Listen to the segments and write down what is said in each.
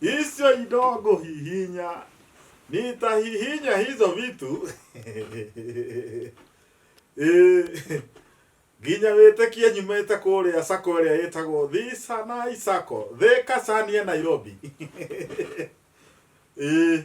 Hizo idogo hihinya. Nitahihinya hizo vitu. Eh, Nginya wĩtĩkie nyumĩte kũrĩa sako ĩrĩa ĩtagwo Thisa na Isako, Thika Sania Nairobi. Eh,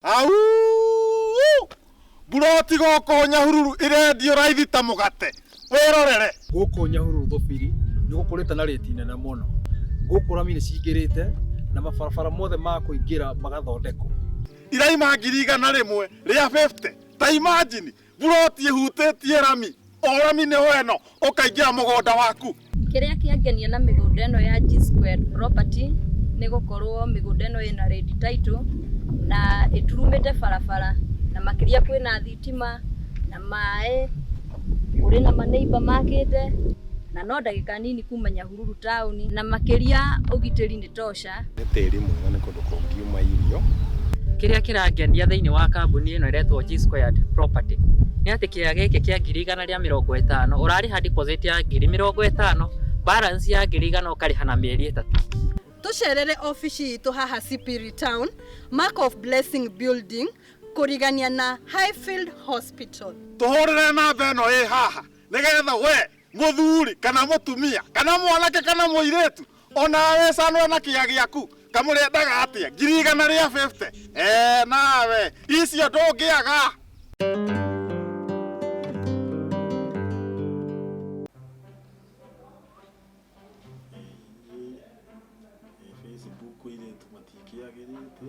Auuu! Mburoti gũkũ Nyahururu ĩrendio raithi ta mũgate. Wĩrorere. Gũkũ Nyahururu Thubiri nĩ gũkũrĩte na rĩti nene mũno. Gũkũ rami nĩ cingĩrĩte na mabarabara mothe ma kũingĩra magathondekwo. Iraima ngiri igana rĩmwe rĩa 50. Ta imagine! Buroti ĩhutĩtie rami, o rami nĩho ĩno, ũkaingĩra mũgũnda waku. Kĩrĩa kĩangenia na mĩgũnda ĩno ya G Square Property nĩ gũkorwo mĩgũnda ĩno ĩna red title na ĩturumĩte barabara na makĩria kwĩna thitima na maĩ, kũrĩ na ma neighbour makĩte na no ndagĩka nini kuma Nyahururu. Nyahururu taũni na makĩria ũgitĩri nĩ tosha. Nĩ tĩri mwega nĩ kũndũ kũngiuma irio. Kĩrĩa kĩrangenia thĩinĩ wa kambuni ĩno ĩretwo G Squared Property nĩ atĩ kĩea gĩkĩ kĩa ngiri igana rĩa mĩrongo ĩtano ũrarĩha deposit ya ngiri mĩrongo ĩtano balance ya ngiri igana ũkarĩha na mĩeri ĩtatũ. Tũcerere obici itũ haha Sipiri Town, Mark of Blessing Building kũrigania na Highfield Hospital. Tũhũrĩre namba ĩno ĩ haha nĩgetha wee Mũthuri, kana mũtumia, kana mwanake, kana mũirĩtu, o nawe wĩcanũre na kĩa gĩaku, kamũrendaga atĩa? Ngiri igana rĩa bĩbute? Ee, nawe, icio ndũngĩaga. Facebook irĩtu matingĩagĩrĩte.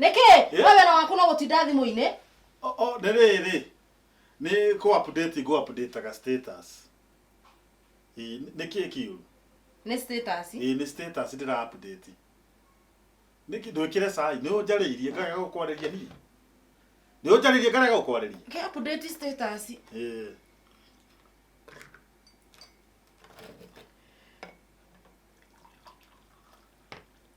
nĩkĩ Eh? we wĩra waku no gũtinda thimũ-inĩ O- o, nĩ rĩrĩ nĩ kũ update ngũ update ga status Ĩ, nĩ kĩ kiu nĩ status Ĩ, nĩ status ndĩra update nĩ kĩ ndwĩkĩre cai nĩ ũnjarĩirie ngarega gũkwarĩria niĩ nĩ ũnjarĩirie ngarega gũkwarĩria Kĩ update status Ĩ.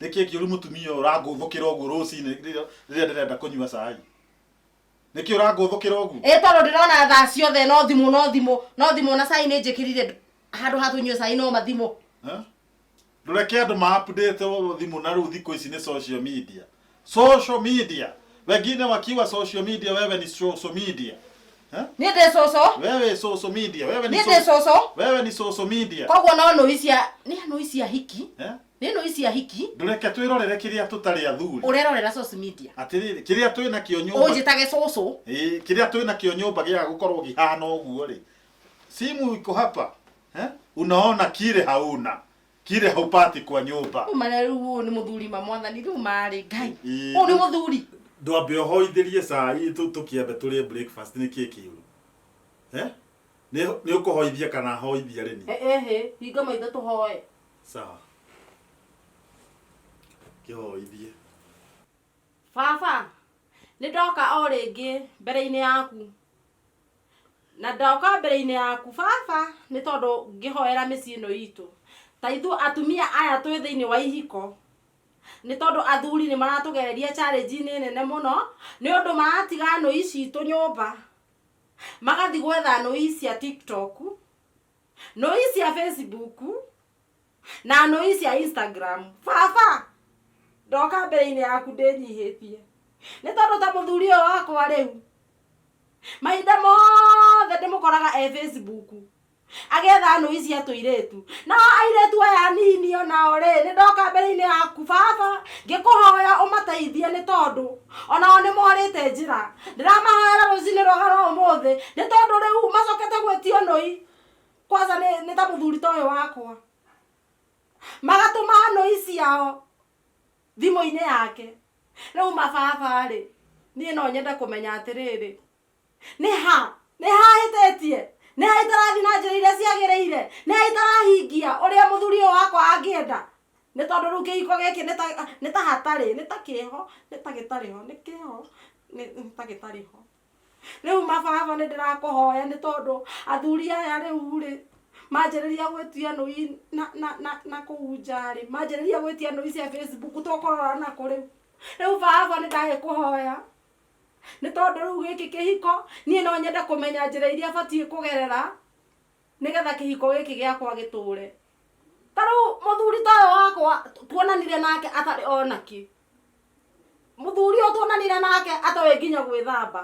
nĩkĩ kĩũru mũtumia ũyũ ũrangũthũkĩra ũguo rũcinĩ rĩrĩa rĩrĩa ndĩrenda kũnyua cai nĩkĩ ũrangũthũkĩra ũguo ĩ tondå ndä rona thaa ciothe no thimå no thimå no thimå na cai nä njä kä rire handå ha tå nyue cai no mathimå Eh? ndũreke andå maapdate thimũ na rĩu thikũ ici nĩ social media social media wengine wakiwa social media wewe ni social media Eh? nä ndä cå cå wewe social media wewe ni nä ndä so- cå cå wewe ni social media koguo no nå icia nä nå icia hiki Eh? Nĩ nũi cia hiki. Ndũreke twĩrorere kĩrĩa tũtarĩ athuri. Ũrerorera source media. Atĩrĩrĩ, kĩrĩa twĩ nakĩo nyũmba. Ũnjĩtage cũcũ. Ĩ, kĩrĩa twĩ nakĩo nyũmba gĩa gũkorwo gĩhana ũguo rĩ. Simu iko hapa. Eh? Unaona kile hauna. Kile haupati kwa nyũmba. Rĩu mara rĩu ũyũ nĩ mũthuri ma mwathani rĩu marĩ ngai. Ĩ, Ũyũ nĩ mũthuri. Ndwambe ũhoithĩrie cai tũ- tũkĩambe tũrĩe breakfast nĩ kĩĩ kĩũru. Eh? Nĩ nĩ ũkũhoithia kana hoithia rĩni? Ehĩ, hinga maitho tũhoe. sawa kĩhoithie baba nĩ ndoka o rĩngĩ mbere-inĩ yaku na ndoka mbere-inĩ yaku baba nĩ tondũ ngĩhoera mĩciĩ ĩno itũ ta ithuĩ atumia aya twĩ thĩinĩ wa ihiko nĩ tondũ athuri nĩ maratũgereria challenge-inĩ nene mũno nĩ ũndũ maratiga nũi citũ nyũmba magathiĩ gwetha nũi cia tiktok nũi sya facebook na nũi sya instagram vava ndoka mbere-inĩ yaku ndĩnyihĩtie nĩ tondũ ta mũthuri ũyũ wakwa rĩu mahinda mothe ndĩmũkoraga e facebook agetha nũi cia tũirĩtu na airĩtu aya anini onao rĩ nĩ ndoka mbere-inĩ yaku baba ngĩkũhoya ũmateithie nĩ tondũ O nao nĩ morĩte njĩra. Ndĩramahoera rũcinĩ rwega rwa ũmũthĩ, nĩ tondũ rĩu macokete gwĩtio nũi, kwanja nĩ, nĩ ta mũthuri ta ũyũ wakwa. Magatũmaga nũi ciao thimũ-inĩ yake. Rĩu mababa-rĩ, niĩ no nyende kũmenya atĩrĩrĩ, nĩ ha nĩ ha hĩtĩtie nĩ ha itarathi na njĩra iria ciagĩrĩire nĩ ha itarahingia ũrĩa mũthuri ũyũ wakwa angĩenda nĩ tondũ rĩu kĩhiko gĩkĩ nĩ ta- nĩ ta hatarĩ nĩ ta kĩho nĩ ta gĩtarĩ ho nĩ kĩho nĩ nĩ ta gĩtarĩ ho rĩu mababa nĩ ndĩrakũhoya nĩ tondũ athuri aya rĩu rĩ manjĩrĩria gwĩtia nũi na, na, na, na kũu njarĩ manjĩrĩria gwĩtia nũi cia facebook tũkũrora na kũrĩu rĩu baba nĩ ndagĩkũhoya nĩ tondũ rĩu gĩkĩ kĩhiko niĩ no nyende kũmenya njĩra iria batiĩ kũgerera nĩgetha kĩhiko gĩkĩ gĩakwa gĩtũre ta rĩu mũthuri ta ũyũ wakwa tuonanire nake atarĩ onaki mũthuri ũyũ tuonanire nake atoĩ nginya gwĩthamba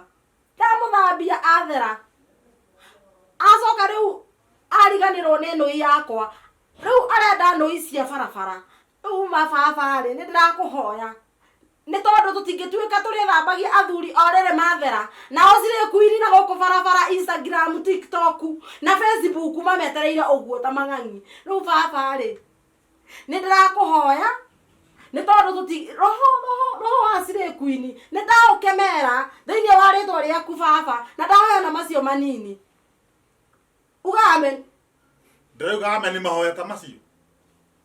ndamũthambia athera acoka rĩu ariganĩrwo nĩ nũi yakwa rĩu arenda nũi cia barabara rĩu ma baba rĩ nĩ ndĩrakũhoya Nĩ tondũ tũtingĩtuĩka tũrĩthambagia athuri o rĩrĩ mathera, nao slay queen na gũkũ barabara, Instagram, TikTok na Facebook mametereire ũguo ta mang'ang'i. Rĩu baba rĩ, nĩ ndĩrakũhoya nĩ tondũ tũti roho roho roho wa slay queen nĩ ndaũkemera thĩinĩ wa rĩtwa rĩaku baba na ndahoya na macio manini. Uga amen. Ndĩrauga amen mahoya ta macio.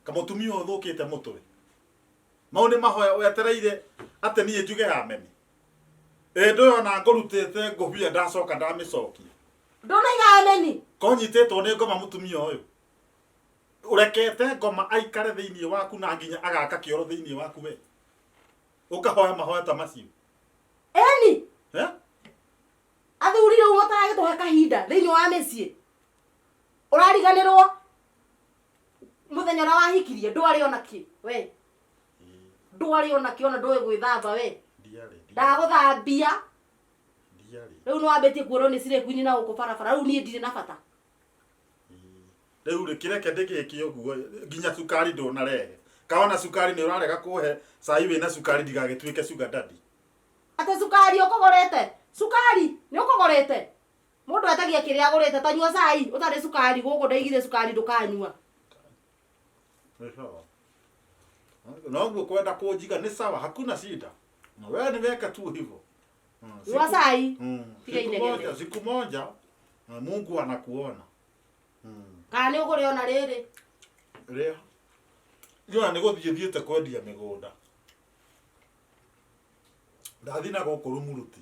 Kamũtumia ũthũkĩte mũtwe. mau nĩ mahoya wetereire atĩ niĩ njuge ameni ĩ ndũyona ngũrutĩte ngũbia ndacoka ndamĩcokia ndũnaiga ameni konyitĩtwo nĩ ngoma mũtumia ũyũ ũrekete ngoma aikare thĩinĩ waku na nginya agaka kĩoro thĩinĩ waku we ũkahoya mahoya ta macio eni eh? athuri rĩu mataragĩtũhe kahinda thĩinĩ wa mĩciĩ ũrariganĩrwo muthenya ũrĩa wahikirie ndwarĩ ona kĩ we ndwarĩ ona kĩ ona ndũĩ gwĩthamba we ndiarĩ ndagũthambia ndiarĩ rĩu nĩ wambĩtie kuonwo nĩ cirĩ kwini na gũkũ barabara rĩu niĩ ndirĩ na bata rĩu rĩ kĩreke ndĩgĩke ũguo nginya cukari ndũnarehe kaona cukari nĩ ũrarega kũhe cai wĩna cukari ndigagĩtuĩke sugar daddy atĩ cukari ũkũgũrĩte cukari nĩ ũkũgũrĩte Mũndũ etagia kĩrĩa agũrĩte ta nyua cai ũtarĩ cukari gũkũ ndaigire cukari ndũkanyua. Nĩ sawa. Noguo kwenda kũnjiga nĩ sawa, hakuna shida. Na wewe niweke tu hivyo. Mm, Nyua siku- cai. Mm, Tiga siku inegene. moja, siku moja na Mungu anakuona. Mm. Kana nĩ ũgũrĩ ona rĩrĩ. Rĩa. Jona nĩ gũthiĩ thiĩte kwendia mĩgũnda. Ndathiĩ na gũkũ rumuruti.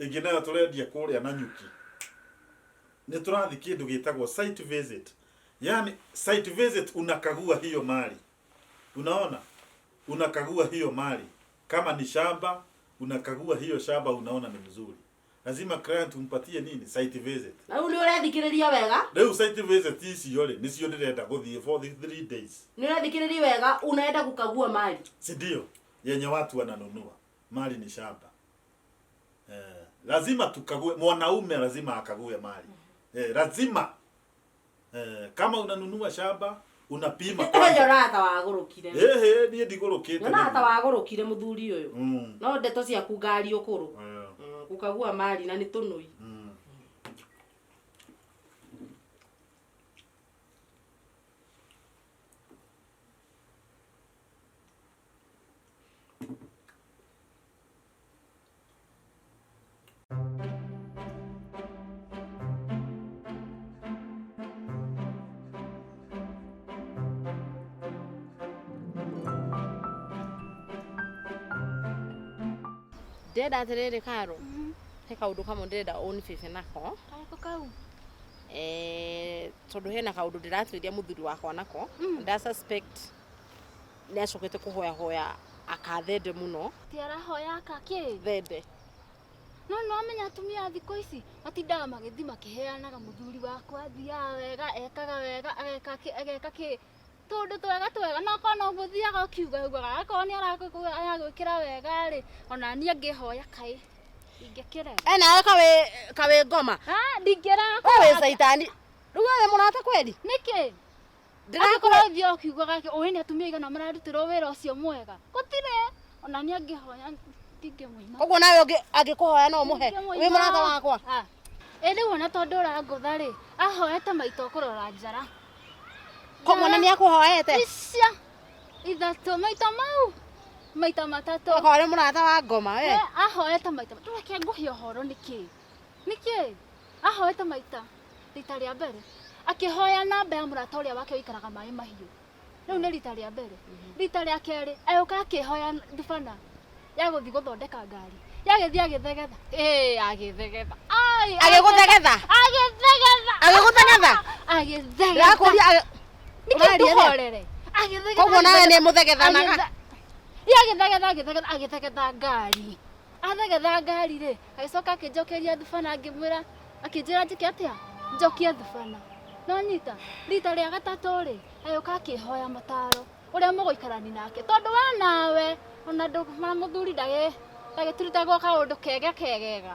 ĩngĩ nayo tũrendia kũrĩa na nyuki nĩ tũrathiĩ kĩndũ gĩtagwo site visit yani site visit unakagua hiyo mali unaona unakagua hiyo mali kama ni shamba unakagua hiyo shamba unaona ni mzuri lazima client umpatie nini site visit rĩu nĩ ũrethikĩrĩria wega rĩu site visit icio rĩ nĩcio ndĩrenda gũthiĩ for the three days nĩ ũrethikĩrĩria wega unaenda gũkagua mali si ndio yenye watu wananunua mali ni shamba eh, lazima tukague mwanaume lazima akague mali eh, lazima eh, kama unanunua shamba unapima kwanza. nyona ta wagurukire Ehe, niĩ ndigũrũkĩte nyona ta nĩguo. wagurukire muthuri uyu Mm, no ndeto ciaku ngari ukuru eh, ukagua mari na ni tunui mm. ndĩrenda atĩrĩrĩ karo he kaũndũ kamwe ndĩrenda ũnibebe nako Karĩkũ kau? Eh, tondũ hena kaũndũ ndĩratuĩria mũthuri wakwa nako nda suspect nä acokete kå hoyahoya akathende må no Ti arahoya aka kĩ? thende No nĩ wamenya atumia a thikũ ici matindaga magĩthiĩ makĩheanaga mũthuri wakwa athiaga wega ekaga wega ageka kĩ ageka kĩ tũndũ twega twega no korwo no gũthiaga ũkiuga ugaga akorwo nĩ arakũ- aragwĩkĩra wega rĩ ona niĩ ngĩhoya kaĩ ingĩkĩrega e nawe kawä kawä ngoma Ah, ndingĩrega we wä caitani rä u we wä må rata kweli nĩkĩ Ndĩrakora ũthiaga ũkiugaga atĩ ũĩ nĩ atumia aigana mararutirwo wĩra ũcio mwega. Gũtirĩ. Ona niĩ angĩhoya ndingĩmũina. Ũguo nawe ũngĩ angĩkũhoya no ũmũhe. Ndingĩmũina. Wĩ mũrata wakwa. Ah. Ĩ rĩu ona tondũ ũrangũtha rĩ, ahoete maita ũkũrora njara. Koguo na nĩakũhoete. Icia ithatũ maita mau maita matatũ. Ũgakorwo arĩ mũrata wa ngoma we. Eh, ahoete maita matatũ. Reke ngũhe ũhoro nĩkĩ? Nĩkĩ? Ahoete maita rita rĩa mbere akĩhoya namba ya mũrata ũrĩa wake ũikaraga maĩ mahiũ rĩu nĩ rita rĩa mbere rita rĩa kerĩ agĩũka akĩhoya ndubana ya gũthiĩ gũthondeka ngari yagĩthiĩ agĩthegetha ĩĩ agĩthegetha Ai, agĩgũthegetha agĩthegetha agĩgũthegetha agĩthegetha ndakũria agĩ- Nĩkĩĩ ũraria rĩ? ndũhorere? Agĩthegetha, koguo nawe nĩ agĩthegetha. mũthegethanaga Agĩthe- Ĩ, agĩthegetha agĩthegetha agĩthegetha ngari athegetha ngari rĩ agĩcoka akĩnjokeria thubana ngĩmwĩra akĩnjĩra njĩke atĩa njokie thubana nonyita rita rĩa gatatũ rĩ agĩũka akĩhoya mataro ũrĩa mũgũikarani nake tondũ we nawe ona ndũ- ma- mũthuri ndagĩ- ndagĩturutagwo kaũndũ kega kegega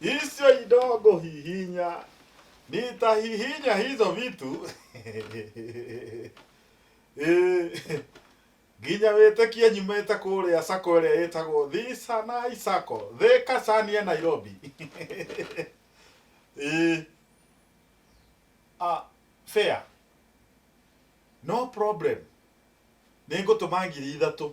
Hizo idogo hihinya. Nitahihinya hizo vitu. Eh, nginya wĩtĩkie nyumĩte kũrĩa sako ĩrĩa ĩtagwo thisanai sako thĩka cania nairobi Eh, ah, fair no problem nĩ ngũtũma ngiri ithatũ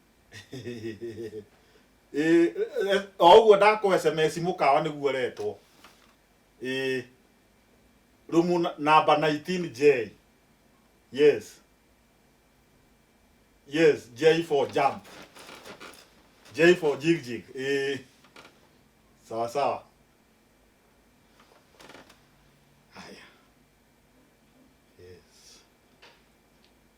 Ĩĩ, eh, o ũguo ndakũhe sms mũkawa nĩguo ũretwo Ĩĩ. rumu na- namba 19j yes yes j for jump j for jigjig Ĩĩ. sawa sawa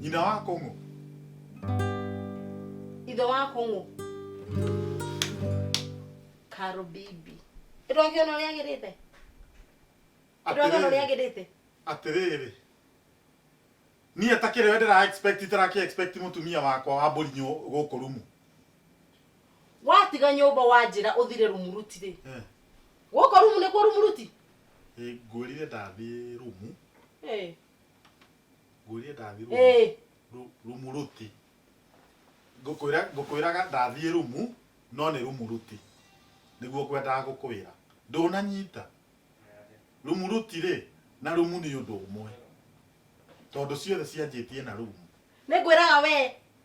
Nyina wa Kũng'ũ. Ithe wa Kũng'ũ. Karo bibi. Ndũrakĩona ũrĩa agĩrĩte? Ndũrakĩona ũrĩa agĩrĩte? Atĩrĩrĩ. Niĩ takĩrĩ we ndĩra expect itara kĩ expect mũtumia wakwa wa mbũri gũkũ rumu. watiga nyũmba wanjĩra ũthire rumuruti-rĩ Eh, gũkũ rumu nĩkuo rumuruti eh, ngwĩrire ndathiĩ rumu Eh, ngwĩrire ndathiĩ rumu eh, Ru- rumu ruti ngũkwĩra ngũkwĩraga ndathiĩ rumu no nĩ rumu ruti nĩguo ngwendaga gũkwĩra ndũnanyita rumu ruti rĩ na rumu nĩ ũndũ ũmwe tondũ ciothe cianjĩtie na rumu nĩngwĩraga wee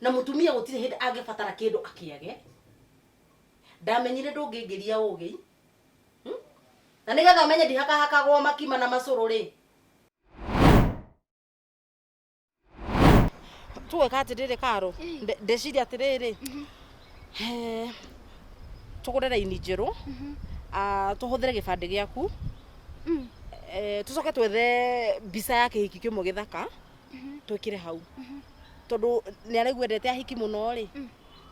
na mutumia gutire hindi angibatara kindu akiage ndamenyire ndungingiria ugi hmm? na nigetha menye ndihakahakagwo makima na macuru ri tuweka atiriri karo ndeciria atiriri mhm. eh, tugure raini njeru mhm. ah, tuhuthire gibandi giaku mm. eh, tucoke twethe mbica ya kihiki kimwe githaka twikire hau tondu ni araigua ndete ahiki muno ri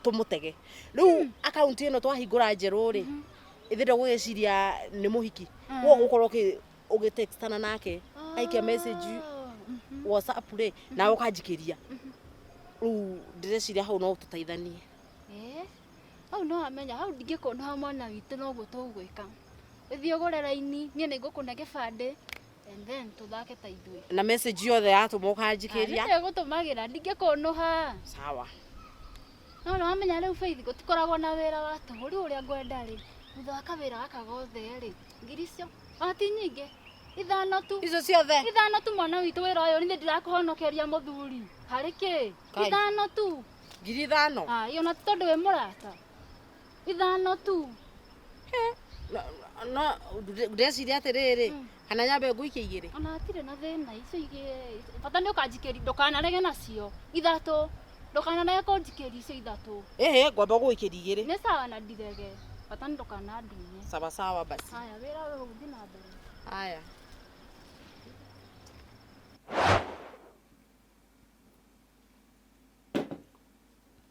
tumutege riu akaunti ino twahingura njeru ri ithi ndugugiciria ni muhiki wo gukorwo ugitextana nake aikia message whatsapp ri na ukanjikiria riu ndireciria hau no tuteithanie Eh, hau no amenya hau ndingĩkũnoha mwana witũ noguo tũgwĩka ũthiĩ ũgũre raini niĩ nĩ ngũkũne gĩbandĩ and then tũthake ta ithuĩ na message yothe yatũma ũkanjikĩria nĩtegũtũmagĩra ndingĩkũnũha sawa no nĩ wamenya rĩu Faith gũtikoragwo na wĩra wa tũhũ rĩu ũrĩa ngwenda rĩ thutha wa kawĩra gaka gothe rĩ ngiri icio ona ti nyingĩ ithano tu icio ciothe ithano tu mwana witũ wĩra ũyũ nĩ ndĩrakũhonokeria mũthuri harĩ kĩ Kai. ithano tu ngiri ithano Ah, iyo na tondå wä må rata ithano tu no ndeciria atiriri kana nyambe nguikie igiri ona hatirĩ na thĩna icio igĩ bata nĩ ũkanjikĩri ndũkanarege nacio ithatũ ndũkanarege kũnjikĩri icio ithatũ ĩhĩ ngwamba gũgũikĩria igiri nĩ sawa na ndirege bata nĩ ndũkanandunye sawa sawa basi haya wĩra ũyũ ũgũthiĩ na mbere haya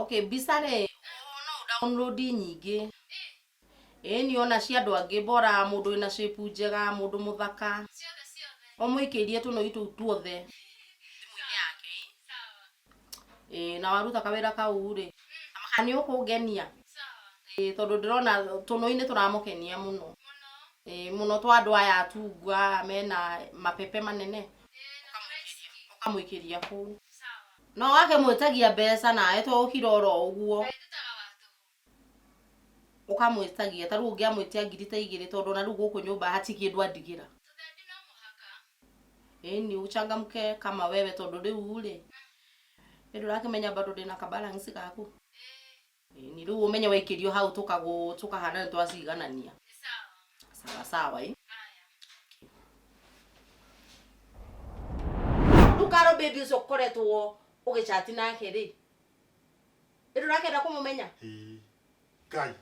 Okay, mbica rĩ, ũguo no download nyingĩ. Ĩni ona cia andũ angĩ bora, mũndũ wĩna shape njega, mũndũ mũthaka. Ũmũikĩrie tũnũi tũu tuothe thimũ-inĩ yake. Ĩ, na waruta kawĩra kau rĩ, kana nĩ ũkũngenia? Ĩ, tondũ ndĩrona tũnũi nĩ tũramũkenia mũno. Ĩ, mũno twa andũ aya atungu aya mena mabebe manene, ũkamũikĩria kũu. No wake mwĩtagia mbeca nawe to ũkira oro ũguo. Kaĩ ndutaga wa tũhũ. Ũkamwĩtagia. Ta rĩu ũngĩamwĩtia ngiri ta igĩrĩ tondũ ona rĩu gũkũ nyũmba hati kĩndũ andigĩra. Tũthendi no mũhaka. Ĩni ũchangamke kama wewe tondũ rĩu rĩ. Ĩ ndũrakĩmenya bado ndĩna ka balance gaku? Ĩĩ. Ĩ, ni rĩu ũmenye waikĩrio hau tũkagũ- tũkahana nĩ twaciganania sawa sawa ĩ ndukaro baby ũcio ũkoretwo ũgĩcati nake rĩ ĩ ndũrakenda kũmũmenya Ĩĩ. ngai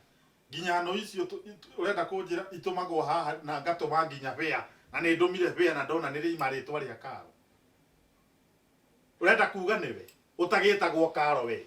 nginya no icio tũ- itũ- ũrenda kũnjĩra itũmagwo haha na ngatũma nginya bĩa na nĩ ndũmire bĩa na ndona nĩ rĩima rĩtwa rĩa karo ũrenda kuga nĩwe ũtagĩtagwo karo we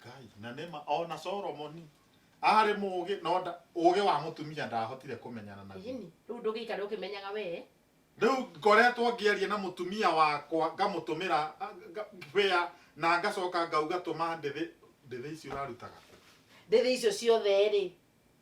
ngai na nĩma ona solomoni arĩ mũũgĩ no nda- ũũgĩ wa mũtumia ndahotire kũmenyana naguo Ĩhĩni, rĩu ndũgĩikare ũkĩmenyaga wee rĩu ngoretwo ngĩaria na mũtumia wakwa ngamũtũmĩra a- nga- wĩa na ngacoka ngauga tũma ndĩthĩ ndĩthĩ ici ũrarutaga kũ?" ndĩthĩ icio ciothe rĩ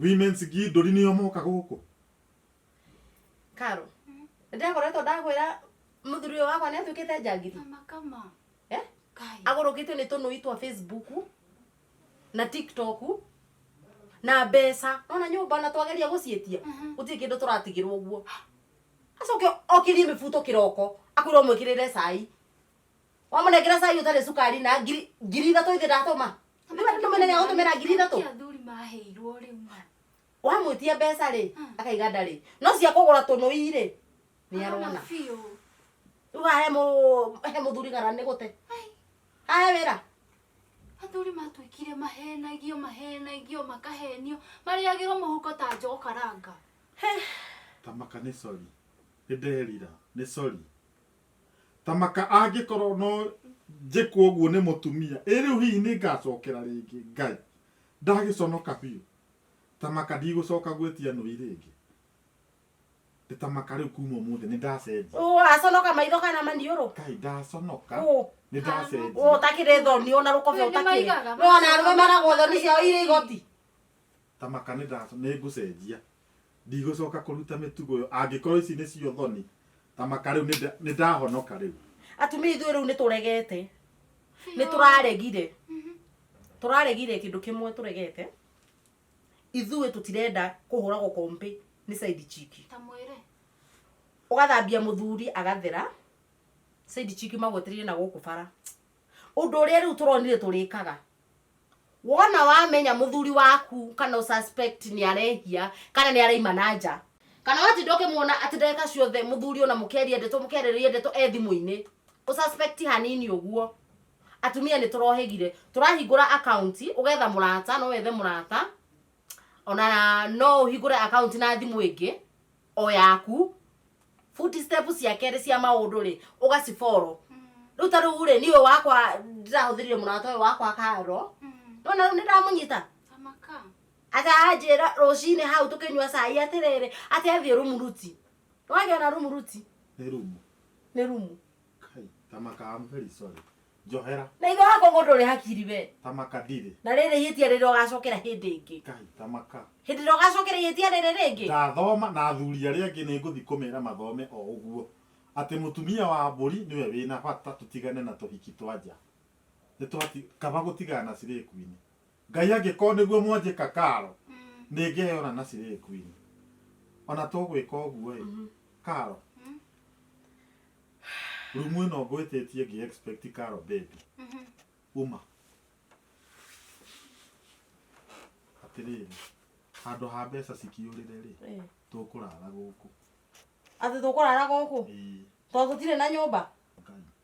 Women's Gindũri nĩo moka gũkũ. Karo, ndekoretwo ndakwĩra mũthuri ũyũ wakwa nĩ atuĩkĩte njangiri Kama kama. eh? Kai. agũrũkĩtio nĩ tũnũi twa facebook na tiktok na mbeca nona nyũmba ona twageria gũcietia Mhm. gũtirĩ kĩndũ tũratigĩrwo ũguo acoke okĩrie mĩbuto kĩroko akwĩrwo mwĩkĩrĩre cai wamũnengera cai ũtarĩ cukari na ngiri ngiri ithatũ ithe ndatũma Nĩ wenda tũmene nĩ agũtũmĩra ngiri ithatũ? Nĩkĩ athuri maheirwo rĩu ma wamwĩtia mbeca rĩ Hmm. akaiga ndarĩ no cia kũgũra tũnũi rĩ nĩ arona Arona biũ rĩu haha he mũ- he mũthuri gara nĩ gũte Ai, hahe wĩra athuri matuĩkire mahenagio mahenagio makahenio marĩagĩrwo mũhuko ta njogo karanga Tamaka nĩ sorry. Nĩ nderira. Nĩ sorry. Ta maka angĩkorwo no njĩkwo ũguo nĩ mũtumia! Ĩ rĩu hihi nĩ ngaacokera rĩngĩ Ngai ndagĩconoka biũ? Ta maka ndigũcoka gwĩtia nũi rĩngĩ! Ĩ ta maka rĩu kuuma ũmũthĩ nĩ ndacenjia! Ũ aconoka maitho kana maniũrũ? Kaĩ ndaconoka, Ũ nĩ ndacenjia! Ũ ũtakĩrĩ thoni, ũ na rũkũbĩ ũtakĩrĩ? Nĩ wona arũme meragwo thoni ciao irĩ igoti? Ta maka nĩ ndaconoka, nĩ ngũcenjia! Ndigũcoka kũruta mĩtugo ĩyo. Angĩkorwo ici nĩcio thoni, ta maka rĩu nĩnda- nĩndahonoka rĩu. Atumia ithuĩ rĩu nĩtũregete. Nĩtũraregire. Tũraregire kĩndũ kĩmwe tũregete. Ithuĩ tũtirenda kũhũragwo kombe nĩ side chick. Ta mwĩre. Ũgathambia mũthuri agathera. Side chick magwetereire na gũkũ bara. Ũndũ ũrĩa rĩu tũronire tũrĩkaga. wona wamenya muthuri waku kana u suspect ni arehia kana ni araima na nja kana watinda ukimuona ati ndagika ciothe muthuri ona mukeria ndeto mukereria ndeto e thimu-ini u suspect hanini uguo atumia ni turohegire turahingura account ugetha murata no wethe murata ona no uhingure account na thimu ingi o yaku footstep cia kerĩ cia maũndũ rĩ ũgacifollow rĩu ta rĩu rĩ niĩ ũyũ wakwa ndĩrahũthĩrire mũrata ũyũ wakwa karo nona rĩu nĩndamũnyita Amaka. akanjĩra rũcinĩ hau tũkĩnyua cai atĩrĩrĩ atĩ athiĩ rumuruti nĩwagĩa na rumuruti nĩ rumu nĩ rumu Kai, tamaka I'm very sorry. Njohera, na ithe wakwa ngũndũ ũrĩ hakiri we tamaka ndirĩ. na rĩrĩ ihĩtia rĩrĩ ũgacokera hĩndĩ ĩngĩ Kai, tamaka. hĩndĩ ĩrĩa ũgacokera ihĩtia rĩrĩ rĩngĩ Ndathoma na athuri arĩa angĩ nĩ ngũthi kũmera mathome o ũguo. Atĩ mũtumia wa mbũri nĩwe wĩna bata tũtigane na tũhiki twa nja. Nĩ twati, kaba gũtigana na cirĩkuinĩ. Ngai angĩkorwo nĩguo mwanjĩka karo nĩ ngĩheo na naci rĩrĩ queen ona tũgwĩka ũguo ĩ karo rumu ĩno ngwĩtĩtie ngĩ expect karo baby uma atĩrĩrĩ handũ ha mbeca cikĩũrĩre rĩ Eh. tũkũrara gũkũ Atĩ tũkũrara gũkũ Ĩĩ, tondũ tũtirĩ na nyũmba. Ngai.